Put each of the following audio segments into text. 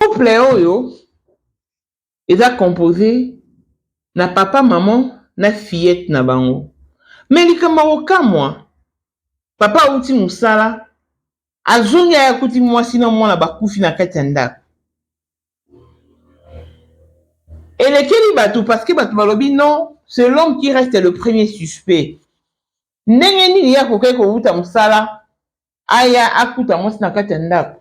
Couple oyo eza compose na papa maman na fillette na bango mais likambo ya kokamwa papa awuti musala azongi aye akuti mwasi na mwana bakufi na kati ya ndako elekeli batu parce que batu balobi non c'est l'homme qui reste le premier suspect ndenge nini ye akokaki kowuta musala aya akuta mwasi na kati ya ndako.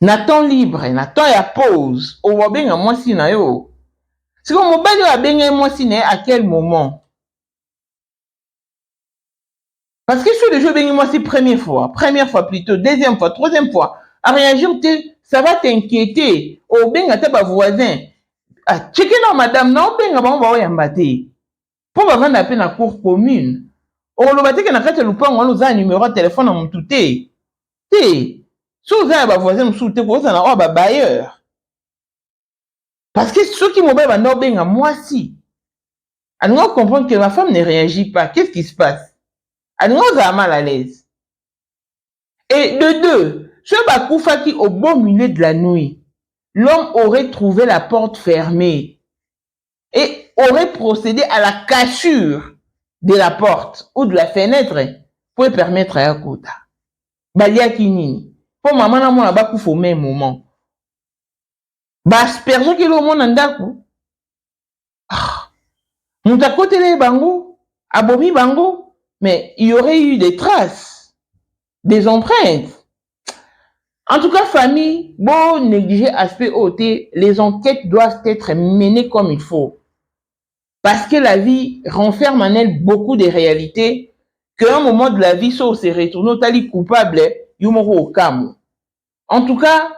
na temps libre na temps ya pause obenga mwasi na yo siko mobali oyo abenga ye mwasi na ye à quel moment parce que soki deja obengi mwasi première fois première fois plutôt deuxième fois troisième fois areagir te ça va t'inquiéter obenga ata bavoisin acheke ah, nao madame naobenga bango baoyamba te mpo bavandaka mpe na cour commune. Okoloba te ke na kati ya lopango wana oza na numero ya telephone ya mutu te? Te! Soki oza ya ba voisins mosusu te, okozala na oyo ya ba bailleurs. Parce que soki mobali abanda kobenga mwasi, alingaki ko comprendre que ma femme ne reagit pas, qu'est-ce qui se passe? Alingaki kozala mal à l'aise. Et de deux, soki bakufaki au beau milieu de la nuit, l'homme aurait trouve la porte fermee. et aurait procede à la cassure de la porte ou de la fenetre po epermettre ye akota. Baliaki nini? Po mama na mwana bakufa au meme moment. Ba aspergeaki eloko moko na ndako? Ah! Moto akoteleli bango, abomi bango, mais il y aurait eu des traces, des empreintes, En tout cas, famille, bon, négliger aspect OT, les enquêtes doivent être menées comme il faut. Parce que la vie renferme en elle beaucoup de réalités qu'à un moment de la vie, si on se retourne, tali coupable, yumoro au kamu. En tout cas,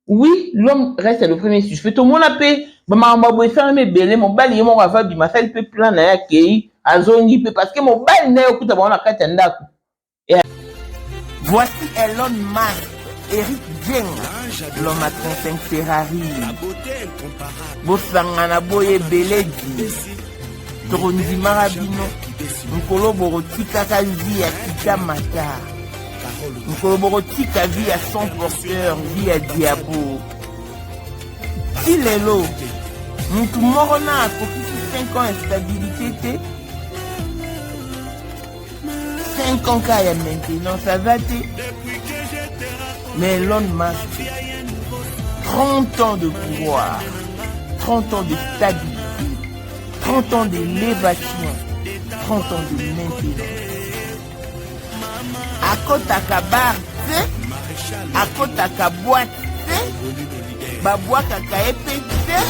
oui, l'homme reste le premier suspect. Tout le monde a payé, maman boye ça me belé mon bali yemo va va bima ça il peut plan na ya kei azongi pe parce que mon bali na yokuta ba na kati ndako Voici Elon Musk, Eric Jeng, l'homme à 35 Ferrari. Bosangana boye ebeledi. Tokondimaka bino. Mokolo bokotikaka vie ya kita mata. Mokolo bokotika vie ya son porteur, vie ya diabo. Ti lelo, motu moko na akokisi 5 ans ya stabilité te. 5 ans kaya maintenant ça va te mais Elon Musk 30 ans de pouvoir 30 ans de stabilité 30 ans d'élévation 30 ans de maintenance akotaka bar te akotaka boite te babwakaka ye mpe te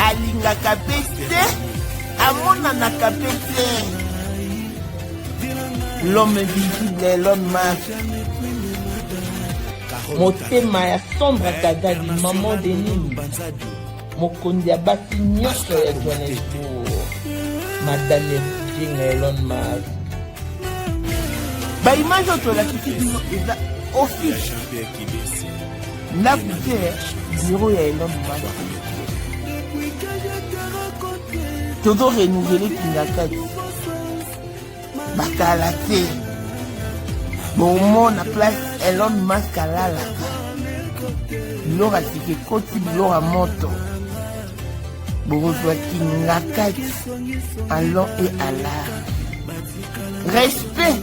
alingaka mpe te amonanaka mpe te l'homme visible l'homme masque motema ya sombre kadadi maman de nini mokonzi ya basi nyonso ya johannesbourg madame ya kijinga elon mas baimage oyo tolakisi bino eza office ndako te biro ya elon mumanda tozo renouvele kingakati bakala te bomona place elon mask alalaka biloko asika ekoti biloko ya moto bokozwa kingakati alon e alar respect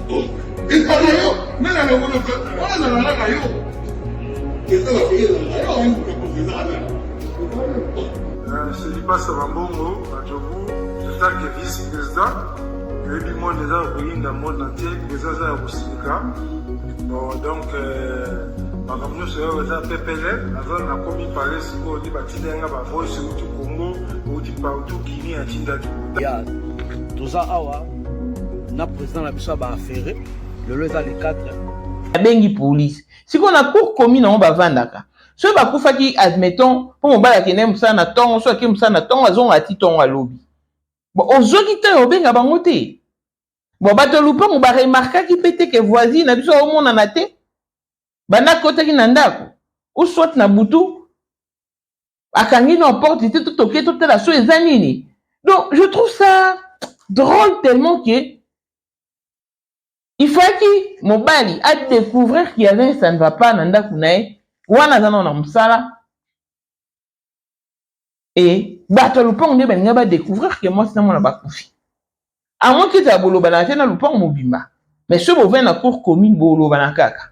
Ezala yo, mimi na lokola kwa, wana na lala na yo. Ezala kwa yo, ayo wangu kwa kwa zala. Selibasa Bambongo, Adjobu, Etat de vice-président, oyebi monde eza koyinda monde entier eza aza ya kosilika bon donc makambo nyonso oyo eza pepele naza nakomi pale sikoyo nde batinda yanga bavoice euti congo euti partout guinée atindaki toza awa na président na biso ya baafere lelo eza le 4 abengi polise sikoyo na cour commune yango bavandaka soki bakufaki admettons mpo mobali akendaki mosala na ntongo soki akei mosala na ntongo azongaka ti ntongo alobi bon ozwaki ntango ya obenga bango te bon bato ya lopango baremarkaki mpe te ke voisine na biso aomonana te banda akotaki na ndako ou soit na butu akangi na porte te totoke totala so eza nini donc je trouve ça drôle tellement que il fallaki mobali adécouvrir qu'il y avait un ça ne va pas na ndako na ye wana aza nao na mosala e bato ya lopango nde balinga badécouvrir ke mwasi na mwana bakufi amoki ezala bolobanaka te na lopango mobimba mais soki bovai na cour commune bolobana kaka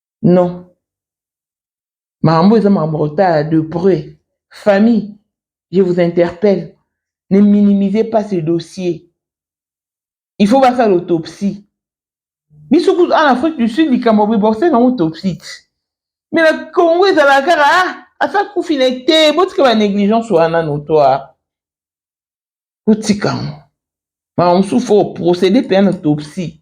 non makambo eza makambo ya kotala de près famille je vous interpelle ne minimise pas ce dossier il faut basala autopsie biso kutu en afrique du sud likambo boye bakosala nango autopsie ti mais na congo ezalaka kaka ah asa kufi na ye te botika ba négligence wana notoire botika yango makambo mosusu fo procéder mpenza na autopsie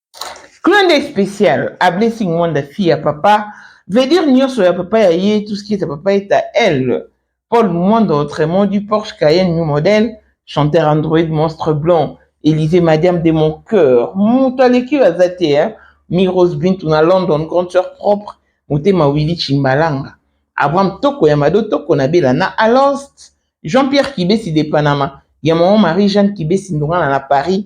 Clin d'œil spécial à Blessing Mwanda fille ya papa veut dire nyonso ya papa ya ye tout ce qui est à papa est à elle Paul Mwanda autrement du Porsche Cayenne new modèle chanteur android monstre blanc Élysée madiam de mon cœur moto aleki yo aza te hein Miros Bintu na London grande sœur propre motema Willy Chimbalanga Abraham Toko ya Mado Toko na Bela na Alost Jean-Pierre Kibesi de Panama ya maman Marie-Jeanne Kibesi ndongana na Paris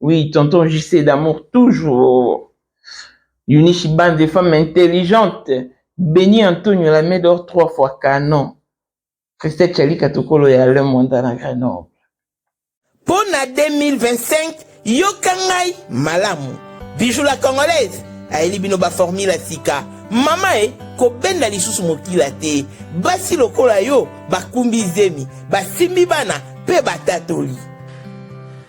Oui, tonton JC d'amour toujours. Eunice Bande, des femmes intelligentes. Béni Antonio la Médor trois fois canon. Christelle Chalika Tokolo ya Alain Mwanda na Grenoble. Mpo na 2025, yoka ngai malamu. Bijou la Congolaise ayeli bino ba formule ya sika. Mama e, kobenda lisusu mokila te. Basi lokola yo bakumbi zemi, basimbi bana mpe batatoli.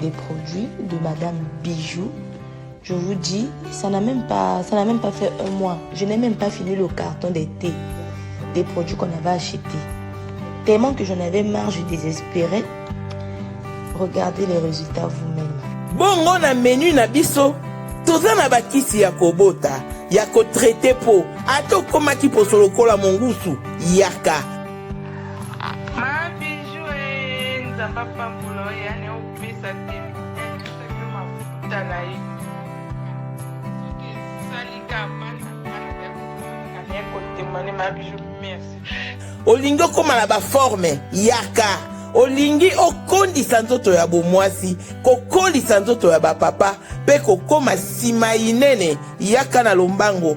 des produits de Madame Bijou. Je vous dis, ça n'a même pas, ça n'a même pas fait un mois. Je n'ai même pas fini le carton des thés, des produits qu'on avait achetés. Tellement que j'en avais marre, je désespérais. Regardez les résultats vous-même. Bongo na menu na biso, toza na bakisi ya kobota, ya kotraite po, ata okomaki poso lokola mongusu, yaka. Ma bijou eh, Nzambe apambola yo yani opesa te yo mafuta na ye soki esalika bana bana ya kotemane ma bijou merci olingi okóma na baforme yaka olingi okondisa nzoto ya bomwasi kokolisa nzoto ya bapapa mpe kokóma nsima inene yaka na lombango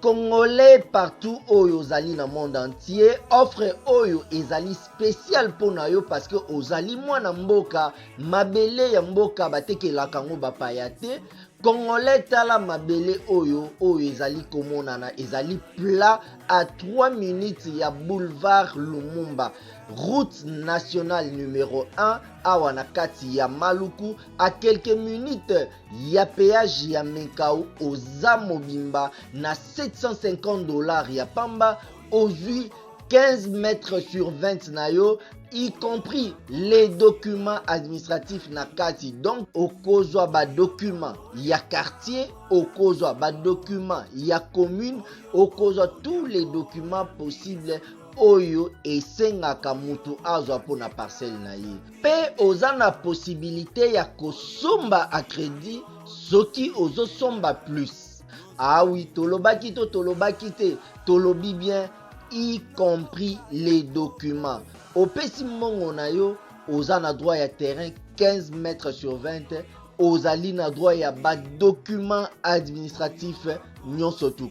Congolais partout oyo ozali na monde entier, offre oyo ezali spécial mpo na yo parce que ozali mwana mboka, mabele ya mboka batekelaka yango bapaya te. Congolais tala mabele oyo oyo ezali komonana ezali plat à 3 minutes ya boulevard Lumumba route nationale numero 1 awa na kati ya Maluku à quelques minutes ya peage ya menkau oza mobimba na 750 dollars ya pamba ozwi 15 mètres sur 20 na yo y compris les documents administratifs na kati donc okozwa badocument ya quartier okozwa badocument ya commune okozwa tous les documents possibles oyo esengaka moto azwa mpo na parcelle na ye Pe oza na possibilite ya kosomba a credit soki ozo somba plus. Ah oui, tolobaki to tolobaki te, tolobi bien y compris les documents. Opesi mbongo na yo, oza na droit ya terrain 15 mètres sur 20, ozali na droit ya ba documents administratifs nyonso tout.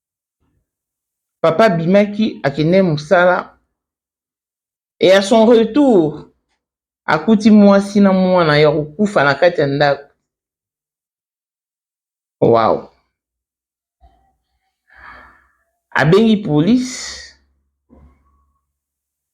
Papa abimaki akende mosala et à son retour akuti mwasi na mwana ya kokufa na kati ya ndako. Wow. Abengi police.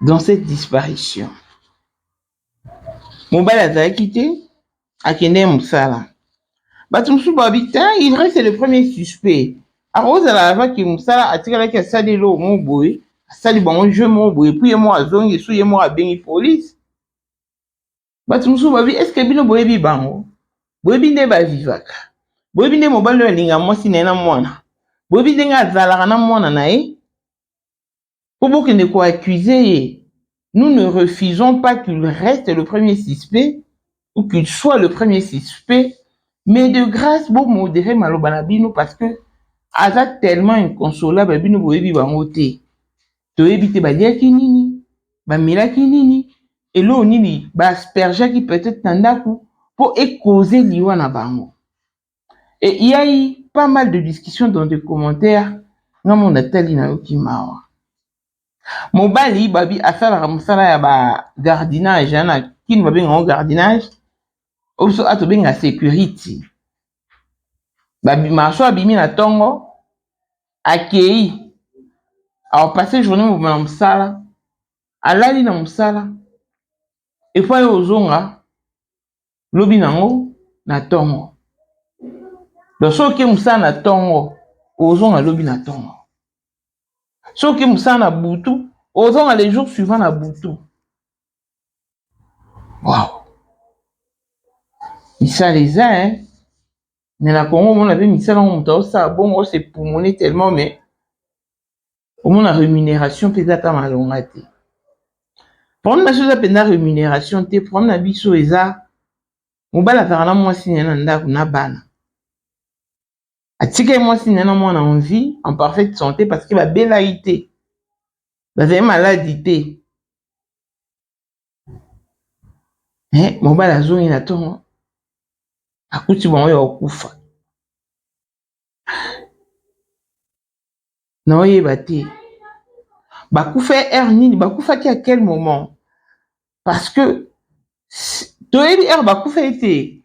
dans cette disparition mobali azalaki te akendaki mosala bato mosusu babi te il reste le premier suspect akozala avaki mosala atikalaki asali eloko moko boye asali bango jeu moko boye epui ye moko azongi esu ye moko abengi polise bato mosusu babi eske bino boyebi bango boyebi nde bavivaka boyebi nde mobali oyo alinga mwasi na ye na mwana boyebi ndenge azalaka na mwana na ye Po bokende ko accuser ye. Nous ne refusons pas qu'il reste le premier suspect ou qu'il soit le premier suspect mais de grace bo moderer maloba na bino parce que aza tellement inconsolable bino boyebi bango te. Toyebi te baliaki nini, bamelaki nini, eloko nini ba aspergeaki peut-être na ndaku po e causer liwa na bango. et il ya eu pas mal de discussion dans des commentaires nga moko natali nayoki mawa mobali babi asalaka mosala ya ba gardinage na kini babenga yango gardinage oyo biso awa tobenga security babima so abimi na ntongo akei apasse journée mobima na mosala alali na mosala epai ozonga lobi na yango na ntongo. Donc soki okei mosala na ntongo ozonga lobi na ntongo, soki okei mosala na butu ozonga le jour suivant na butu. Wow. misala eza e eh? me na kongo omona mpe misala yango moto aosala bongo ose pumone tellement mais omona rémunération mpe eza ta malonga te problème na biso eza mpenza rémunération te problème na biso eza mobali azalaka na mwasi na ye na ndako na bana atikaki mwasi na ye na mwana en vie en parfaite santé parce que babelaki te bazali maladi te me mobali azongi na ntongo akuti bango ya kokufa na oyeba te bakufa heure nini bakufaki à quel moment parce que toyebi heure bakufa ete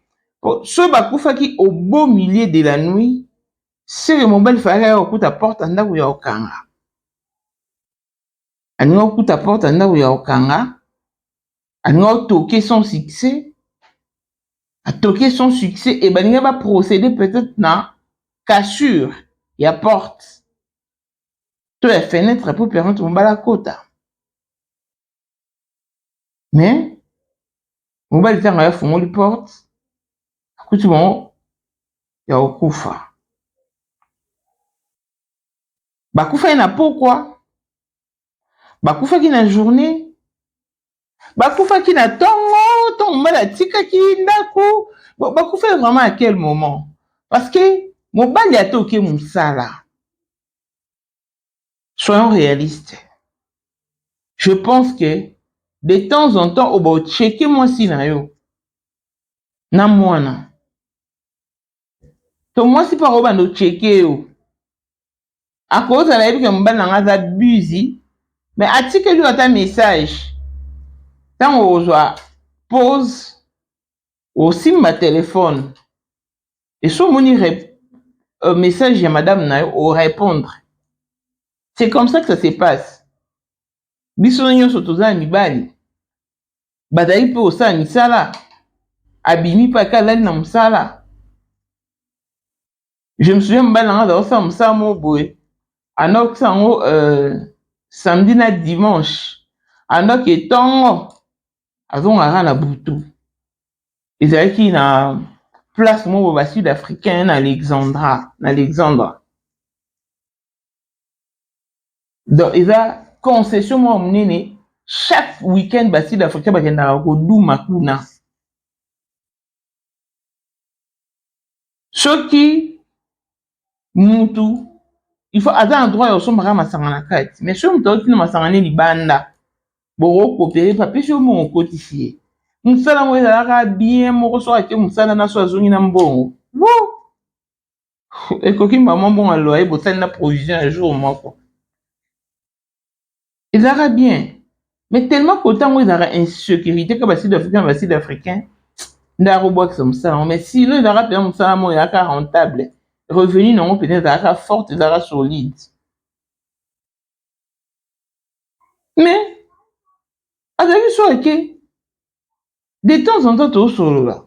so bakufaki au beau milieu de la nuit seke mobali falaki aya kokuta porte ya ndako ya kokanga alingi okuta porte ya ndako ya kokanga alingi otoke son succès atoke son succès e balingi ba procéder peut-être na cassure ya porte to ya fenêtre mpo permettre mobali akota mais mobali ntango ayo afungoli porte akuti bango ya kokufa bakufaki na pokwa, bakufaki na journée, bakufaki na ntongo, ntongo mobali atikaki ndako, bakufaki vraiment à quel moment? Parce que mobali ata oke mosala, soyons réalistes, je pense que de temps en temps oba ocheke mwasi na yo na mwana to mwasi mpe akobanda ocheke yo akozala yebi ke mobali na ngai aza busy me atikeli yo ata message ntango okozwa pose osimba telefone esi omoni euh, message ya madame na yo orépondre c'est comme ça que ça se passe biso nyonso toza na mibali bazali mpe kosala misala abimi mpe ake alali na mosala je me souviens mobali na ngai azali kosala mosala moko boye anokisa yango euh, samedi na dimanche andoki etongo azongaka na butu ezalaki na place moko ba sud africain na alexandra na alexandra donc eza concession moko monene chaque week-end ba sud africain bakendaka koduma kuna soki mutu il faut aza na droit ya kosombaka masanga na kati mais soki moto auti na masanga ne libanda bokokopere papesi yo mbongo okotisi ye mosala yango ezalaka bien moko soki ake mosala na so azongi na mbongo ekoki mbala mwa mbongo ya loye bosali na provision ya jour moko ezalaka bien mais tellement kota yango ezalaka insécurité ka basud africain na basud africain nde akobwakisa mosala yango mais silo ezalaka mpenza mosala yango ezalaka rentable revenu na yango mpenza ezalaka forte ezalaka solide mais azalaki so ake de temps en temps tosolola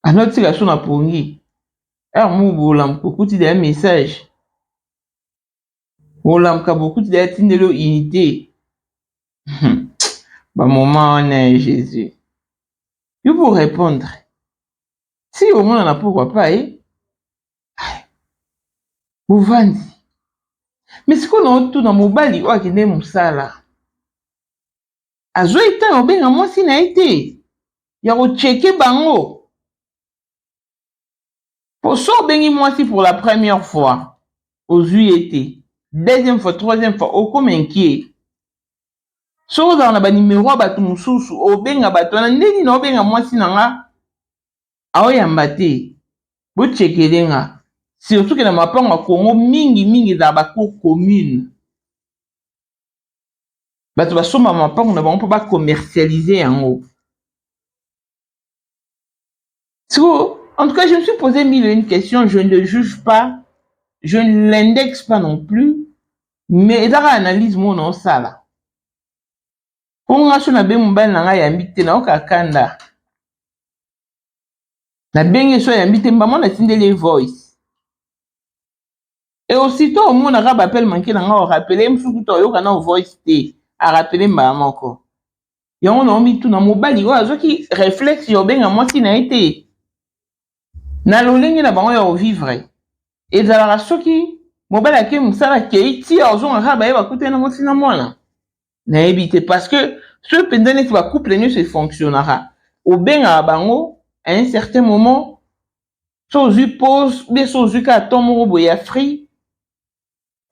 Azo tika biso na pongi heure moko bolamuka okuti dejà message bolamuka bokuti dejà atindeli yo unite ba moment wana ya Jesus yo bo repondre si omonana pourquoi pas ye bovandi mais sikoyo na otuna mobali oyo akende mosala azwaki ntango ya kobenga mwasi na ye te ya kocheke bango mpo so obengi mwasi pour la première fois ozwi ye te deuxième fois troisième fois okoma inquiet so ozala na banimero ya bato mosusu obenga bato wana nde nini obenga mwasi na nga aoyamba te bochekele nga surtout ke na mapango ya kongo mingi mingi ezala bacour commune bato basomba mapango na bango mpo ba commercialise yango siko en tout cas je me suis posé mille une question je ne juge pas je ne l'indexe pas non plus mais eza kaka analyse moko na osala mpo nga so nabe mobali na ngai yambi te nayoka kanda nabenge so yambi te mbamona atindeli ye voice et aussitôt omonaka ba appel manque na nga o rappeler ye mosusu kutu oyoka na voice te a rappeler mbala moko yango na omituna mobali oyo azwaki reflexe ya obenga mwasi na ye te na lolenge na bango ya ovivre ezalaka soki mobali ake mosala akei ti ozongaka baye bakutani na mwasi na mwana nayebi te parce que soki mpenza neti bacouple nyonso efonctionnaka obengaka bango à un certain moment so ozwi pose ou bien so ozwi kaka temps moko boye ya free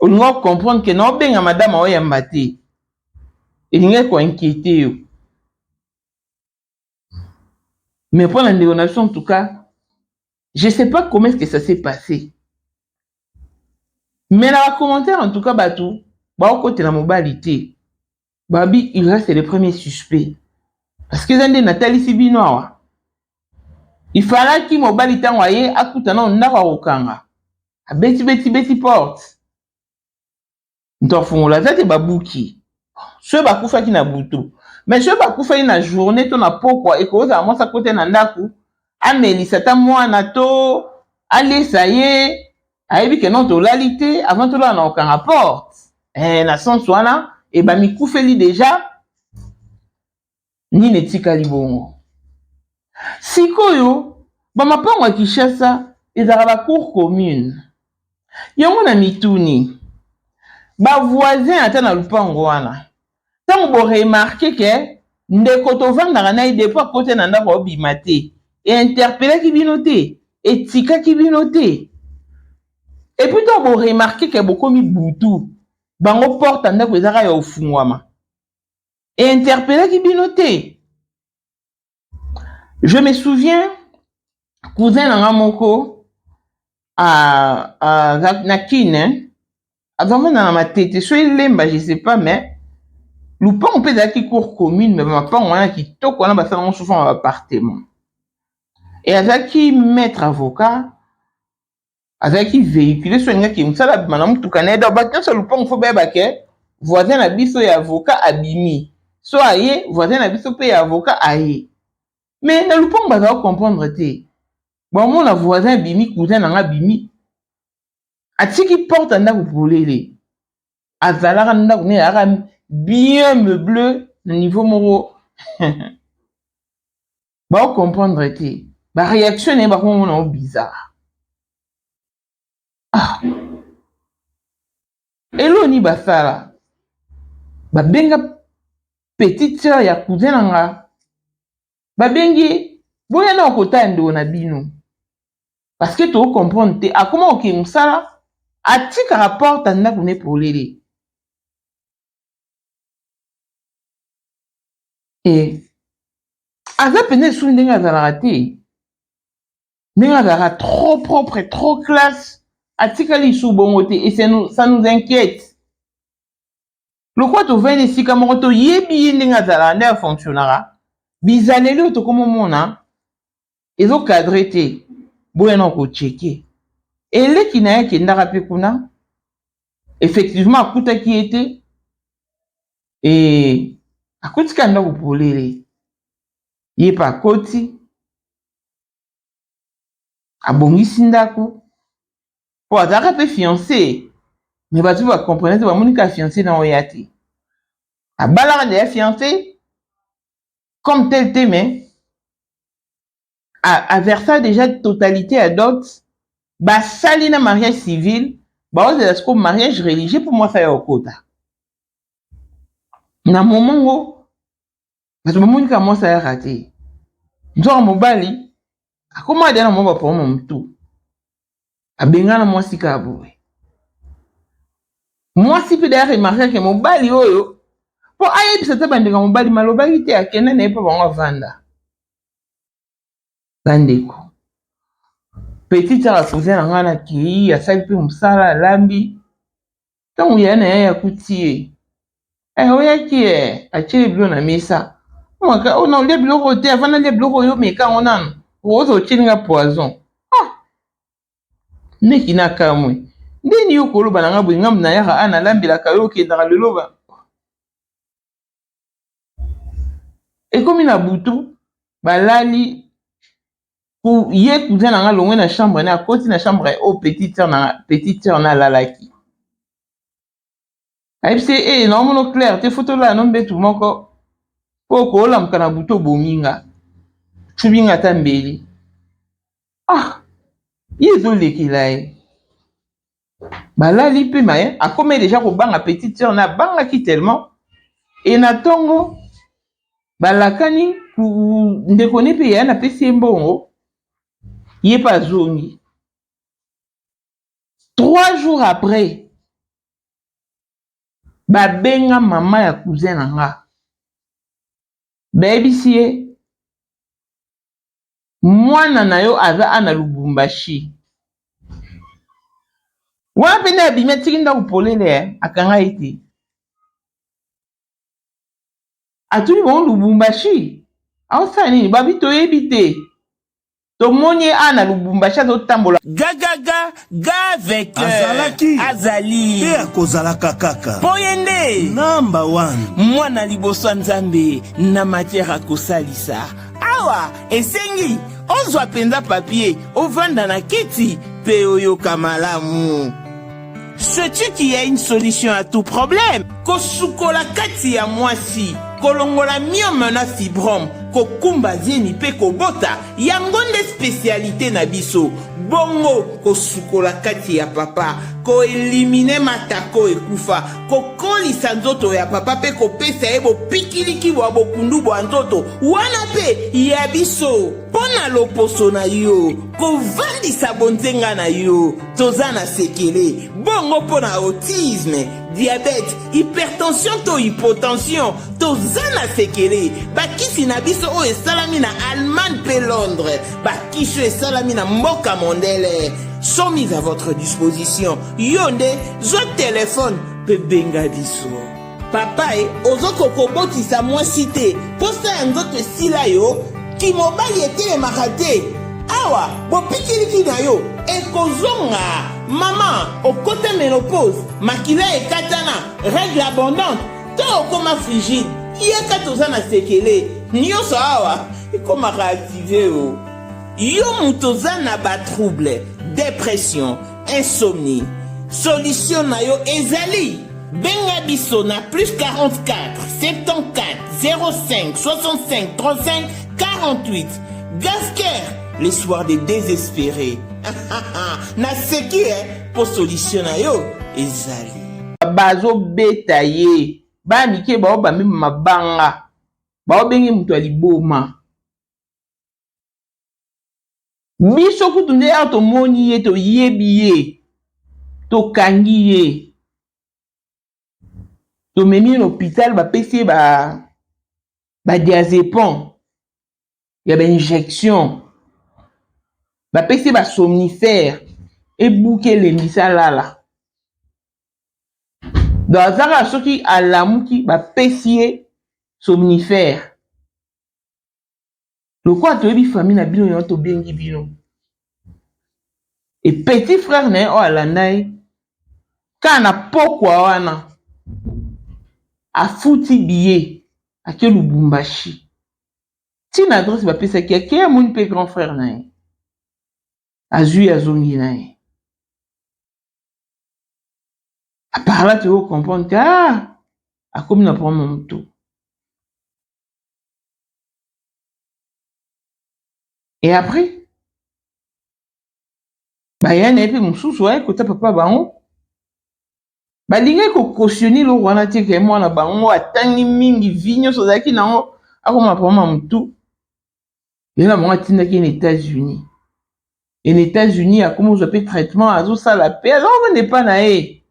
olingi ocomprendre ke na obenga madame aoyamba te elingaki koinquiete yo mais mpo na ndeko na biso en tout cas je sais pas comment est-ce que ça s'est passé mais na bacommentaire en tout cas bato baokotela mobali te babi il reste le premier suspect parce que eza nde natalisi bino awa ifalaki mobali ntango aye akuta nao ndako ya kokanga abeti beti beti porte moto afungola aza te babuki soki bakufaki na butu mais soki bakufaki na journée to na pokwa ekozala mwasi akote na ndako amelisa ata mwana to alesa ye ayebi ke non tolali te avant tolala na kokanga porte eh, na sense wana e bamikufeli deja nini etikali bongo sikoyo bamapango ya kinshasa ezalaka bacour commune yango na mituni bavoisin ata na lupango wana ntango boremarke ke ndeko tovandaka na ye depo akote na ndako obima te einterpelaki bino te etikaki bino te epuis ntango boremarke ke bokomi butu bango porte ya ndako ezaka ya ofungwama einterpelaki bino te je me souviens cousin na nga moko a, a, na kin hein? azamona na matete so elemba je sais pas mais lupango mpe ezalaki cour commune me mapango wana kitoko wana basala ngo souvent ba appartement e azalaki maître avocat azalaki vehicule so alingaki mosala abima na motuka na ye donc bato nyonso ya lopango fo bayeba ke voisin na biso ya avocat abimi so aye voisin na biso mpe ya avocat aye me na lopango bazala comprendre te bamona voisin abimi cousin na nga abimi atiki porte ya ndako polele azalaka na ndako ne yaka bien meuble na niveau moko bao comprendre te ba reaction na ye bakongo na yo bizarre ah. eloni basala babenga petite sœur ya cousin na nga babengi boya na okotala ndeko na bino parce que to comprendre te akoma okende mosala atikaka porte ya ndako ne polele e aza mpenza lisusu ndenge azalaka te ndenge azalaka trop propre trop classe atikali lisusu bongo te et ça nous inquiète lokola tovandi esika moko toyebi ye ndenge azalaka nde afonctionnaka bizaleli oyo tokomomona ezo cadre te boya na ko checker et leki na ye akendaka pe kuna effectivement akutaki ye te et akotika ndako polele ye pe akoti abongisi ndako po azalaka pe fiance me bato pe bacomprenate bamoni kaka fiance na oya te abalaka deya fiance comme tel te mais aversa déjà totalité ya dot basali na mariage civil baozela sikoyo mariage religieux mpo mwasi aya kokota na momo ngo bato bamoni kaka mwasi ayaka te nzoka mobali akoma deya na mwa bapoma motu abengana mwasi kaka boye mwasi mpe dayaka emarkake mobali oyo mpo ayebisa te bandeko ya mobali malobaki te akenda na ye mpo bango avanda bandeko petit aka koza na ngai nakei asali mpe mosala alambi ntango yaya na yaya akuti ye eh, oyaki e eh, atye ye bilo na mesa omaka oh, ona olia biloko te avant nalia biloko oyo omeka yango nano okoza otyeli nga poison ah! meki nakamwe ndeni yo koloba na nga boye ngambo nayaka a ah, nalambelaka yo okendaka lelo ekomi na butu balali ye cousin na nga longwe na chambre na akoti na chambre oyo oh, petite sœur na petite sœur na alalaki ayebisi ye ee eh, naomono claire te fo tolala no mbetu moko mpo okolamuka na butu obomi nga cubi nga ata mbeli ah ye ezolekela ye Balali pe mais akomaki dejà kobanga petite sœur naye abangaki tellement et na tongo balakani ndeko ne pe yaya napesi ye mbongo ye pe azongi trois jours après babenga mama ya cousin na nga bayebisi ye Mwana na yo aza a na Lubumbashi. Wana pe nde abimi atiki ndako polele eh, akanga ye te. Atuni bango Lubumbashi, aosala nini? Babi toyebi te. Tomoni ye a na Lubumbashi azotambola. Gagaga! gave que azalaki azali mpe akozalaka kaka mpo ye nde namba wana mwana liboso ya nzambe na matière akosalisa awa esengi ozwa mpenza papie ovanda na kiti mpe oyoka malamu Sais-tu qu'il y a une solution à tout problème Kosukola kati ya mwasi, kolongola myome na fibrome, kokumba zemi mpe kobota Yango nde specialite na biso. Bongo kosukola kati ya papa, ko eliminer matako ekufa, kokolisa nzoto ya papa pe kopesa ye bopikiliki bwa bokundu bwa nzoto wana pe ya biso. Mpo na loposo na yo, kovandisa bonzenga na yo, toza na sekele. Bongo mpo na autisme, diabete hypertension to hypotension toza na sekele bakisi na biso oyo esalami na allemagne mpe londres bakisi oyo esalami na mboka mondele sont mis à votre disposition yo nde zwa telefone mpe benga biso papa e ozokoka kobotisa mwasi te mposa ya nzoto esila yo kimobali etelemaka te awa bopikiliki na yo ekozonga Maman, okota menopause, makila ekatana, règle abondante, to okoma frigide, yaka toza na sekele, nyoso awa ekomaka active o. Oh. Yo moto oza na ba trouble, depression, insomnie, solution na yo ezali benga biso na plus 44 74 05 65 35 48 gasker Les soirs de désespéré. Naseki eh po solution na yo ezali. Bazobeta ye. Bana mike bao bamema mabanga. Bao bengi moto ya liboma. Biso kutu nde awa tomoni ye toyebi ye. Tokangi ye. Tomemi ye na hôpital bapesi ye ba ba diazepam. ya bainjection bapesi basomnifere ebuki elembisi alala donc aza kaka soki alamuki bapesi ye somnifere lokola toyebi famille na bino yango tobengi bino e petit frère na ye oyo alanda ye kaka na pokwa wana afuti biye ake lubumbashi ti na adresse bapesaki ake amoni mpe grand frère na ye azwi azongi na ye aparla toyoko comprendre ka ah, akomi na problème motu e après baya na ye mpe mosusu aye kota papa bango balingaki ko cautionner eloko wana te ke mwana bango atangi mingi vie nyonso azalaki na yango akoma papa ma mutu ye na bango atindaki ye na États-Unis et na États-Unis akomi kozwa mpe traitement azosala mpe aza kokende epa na ye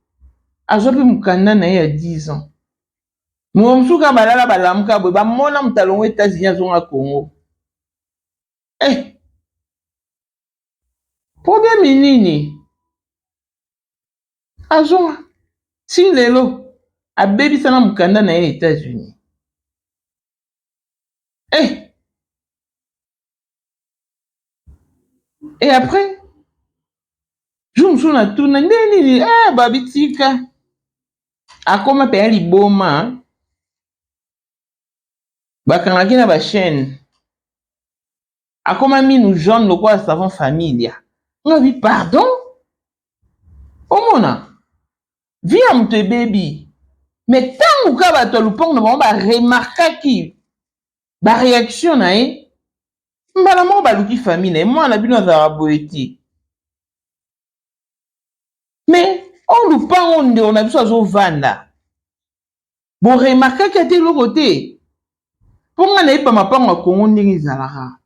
azwa mpe mokanda na ye ya 10 ans moko mosusu kaka balala balamuka boye bamona moto alongo États-Unis azonga Congo eh problème nini azua ti lelo abebisa na mukanda na ye ya etats unis eh! et après jour mosusu natuna nde nini eh, babitika akoma mpenza liboma bakangaki na bachaine akoma minu jaune lokola savon familia nga bi pardon omona vie ya moto ebebi me ntango ka bato ya lopango na bango baremarkaki bareaction na ye mbala moko baluki famille na ye mwana bino azalaka boye te me oyo oh, lopango ndeko na biso azovanda Bo remarkaki ata eloko te? Mpo ngai nayebi mapango ya Congo ndenge ezalaka.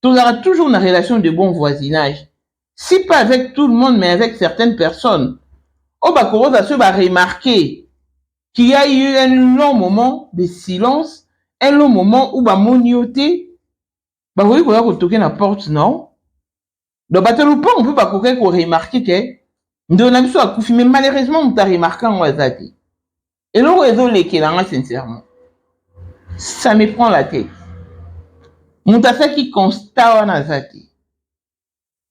Tozalaka toujours na relation de bon voisinage. Si pas avec tout le monde, mais avec certaines personnes. Oyo bakokoza soki ba remarquer qu'il y a eu un long moment de silence, un long moment où bamoni yo te, bakoki koya kotoke na porte na yo, donc bato ya lopango mpe bakokaki koremarke ke ndeko na biso akufi mais malheureusement moto aremarke yango aza te eloko ezolekela nga sincèrement ça me prend la tête moto asalaki constat wana aza te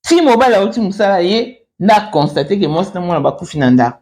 ti mobali auti mosala ye na constate ke mwasi na mwana bakufi na ndako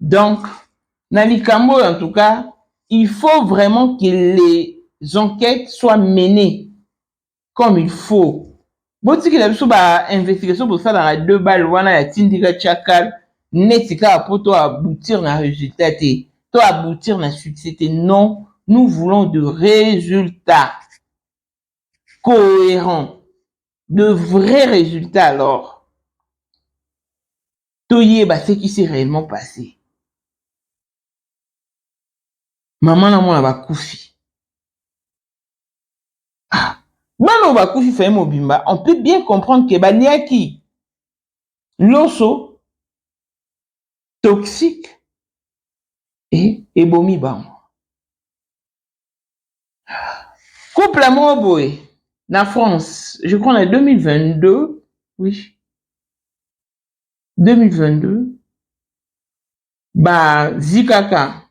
Donc, na likambo oyo en tout cas, il faut vraiment que les enquetes soient menees comme il faut. Botikela biso ba investigation bosalaka deux balles wana ya tindika tchakal neti kaka po to aboutir na resultat te, to aboutir na succès te. Non, nous voulons de résultats cohérents, de vrais résultats alors. toyeba ce qui s'est réellement passé mama na mwana bakufi ah, bana oyo bakufi faye mobimba on peut bien comprendre ke baliaki loso toxique e ebomi bango couple moko boye na france je crois na 2022 oui 2022 bazwi kaka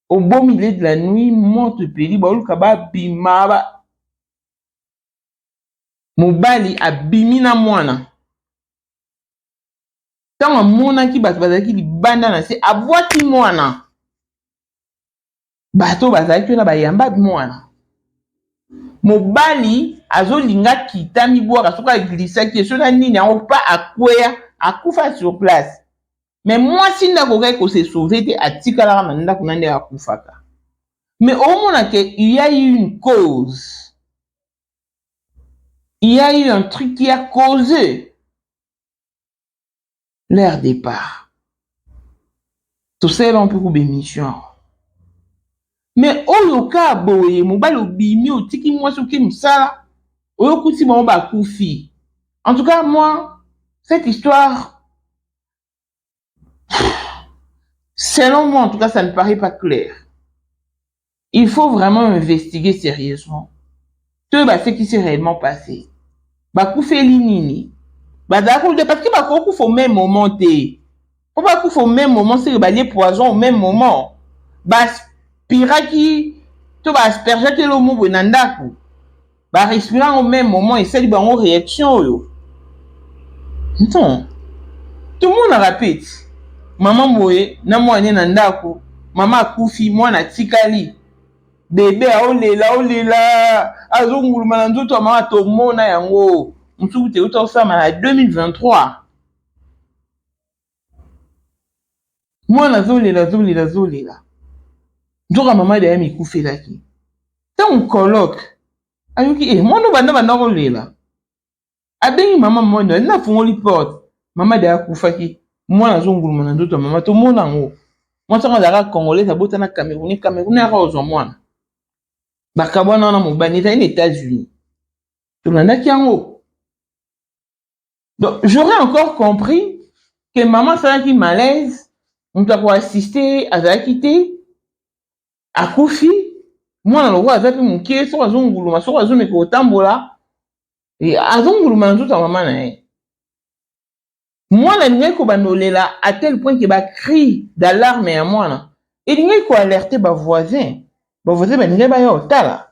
au beau milieu de la nuit moto epeli baoluka babima ba mobali abimi na mwana ntango amonaki bato bazalaki libanda na se abwaki mwana bato bazalaki wana bayamba mwana mobali azolinga kita mibwaka soki aglisaki ye soki nini yango pa akweya akufa sur place me mwasi nde akokaki kose sauve te atikalaka na ndako na nde akufaka me omona ke ya une cause ya eu un truc ya cause leur depart tosalela mpe kuba emission yango mais oyo ka boye mobali obimi otiki mwasi oke mosala oyo okuti bango bakufi en tout cas moi cette histoire selon moi en tout cas ça ne paraît pas clair Il faut vraiment investiguer serieusement toyeba ba ce qui s'est reellement passe. Bakufeli nini? Bazalaki kolia parce que bakoki kufa au meme moment te. Po bakufa au meme moment seke balie poison au meme moment. Ba aspiraki to ba aspergeaki eloko moko boye na ndako. Ba respire yango meme moment esali bango reaction oyo. Non. Tomonaka pe ti mama boye na mwana ne na ndako, mama akufi mwana atikali bebe aolela aolela azonguluma na nzoto ya mama tomona yango mosusu kutu euta kosala na 2023. Mwana azolela azolela azolela nzoka mama deya mikufelaki ntango coloke ayoki e mwana obanda banda kolela abengi mama mwana na afungoli porte mama deya akufaki mwana azonguluma na nzoto ya mama tomona yango mwasi yango azalaka congolaise abota na cameroune cameroune yaka ozwa mwana bakabwana wana mobali ezali na etats-unis tolandaki yango donc j'aurais encore compris que mama asalaki malaise moto ya koassiste ye azalaki te akufi mwana lokola aza mpe moke soko azonguluma soko azomeka kotambola e, azonguluma na nzoto ya mama na ye mwana elingaki kobanda olela à tel point ke bacri d'alarme ya mwana elingaki koalerte bavoisin bavoisin balingaki baya otala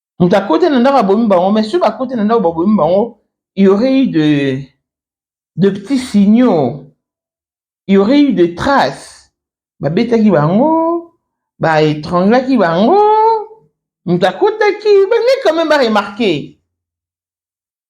moto akoti na ndako abomi bango mais soki bakoti na ndako babomi bango il y aurait eu de de petits signaux il y aurait eu de traces babetaki bango ba étranglaki bango moto akotaki balingi quand même ba remarquer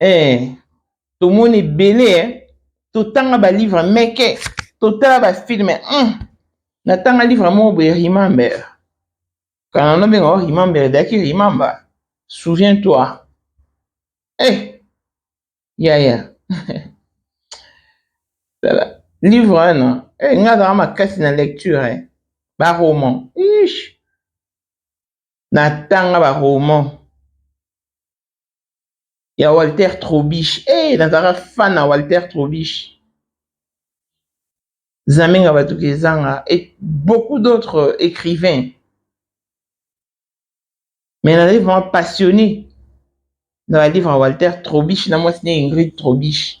eh, tomoni ebele eh. totanga balivre meke totala bafilme mm. natanga livre moko boye remember kana nobenga o remember ezalaki remember souviens toi eh. yaya tala livre wana eh, nga azalaka makasi na lecture eh. baroman ish natanga baroman ya Walter Trobish eh nazalaka fan na Walter Trobish Zamenga Batuka Ezanga et beaucoup d'autres écrivains mais nazali vraiment passionné na ba livre ya Walter Trobish na mwasi na Ingrid Trobish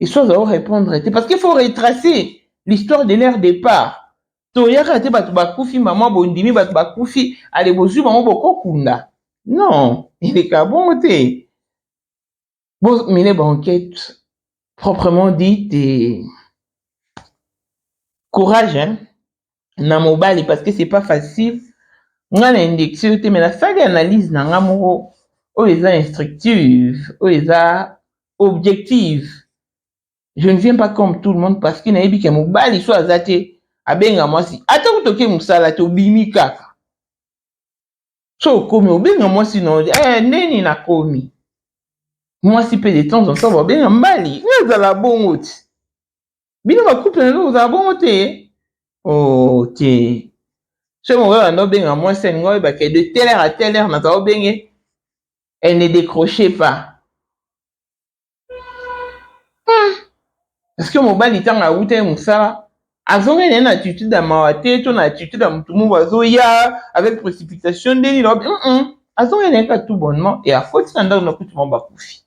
esois azao répondre te parce qu'il faut retracer l'histoire de leur départ toyaka te bato bakufi mama bondimi bato bakufi ale bozwi bango bokokunda non eleka bongo te bomine banquete proprement dit et courage hein? na mobali parce que c'est pas facile nga na indexe yo te mais nasali analyse na nga moko oyo eza instructive oyo eza objective je ne viens pas comme tout le monde parce que nayebi ke mobali so aza te abenga mwasi ata kutu oke mosala te obimi kaka so okomi obenga mwasi na eh, ndeni nakomi mwasi mpe de temps en temps babenga mbali nga ezala bongo ti bino ba couple na bino kozala bongo te oh te soki moko banda obenga mwasi alingi oyeba ke de telle heure à telle heure naza obenge elle ne décroche pas hmm. parce que mobali ntango awutaki mosala azongai naye na attitude ya mawa te to na attitude ya motu moko azoya avec précipitation nde nini azongai naye kaka tout bonnement e akoti na ndako na kutu mwa bakufi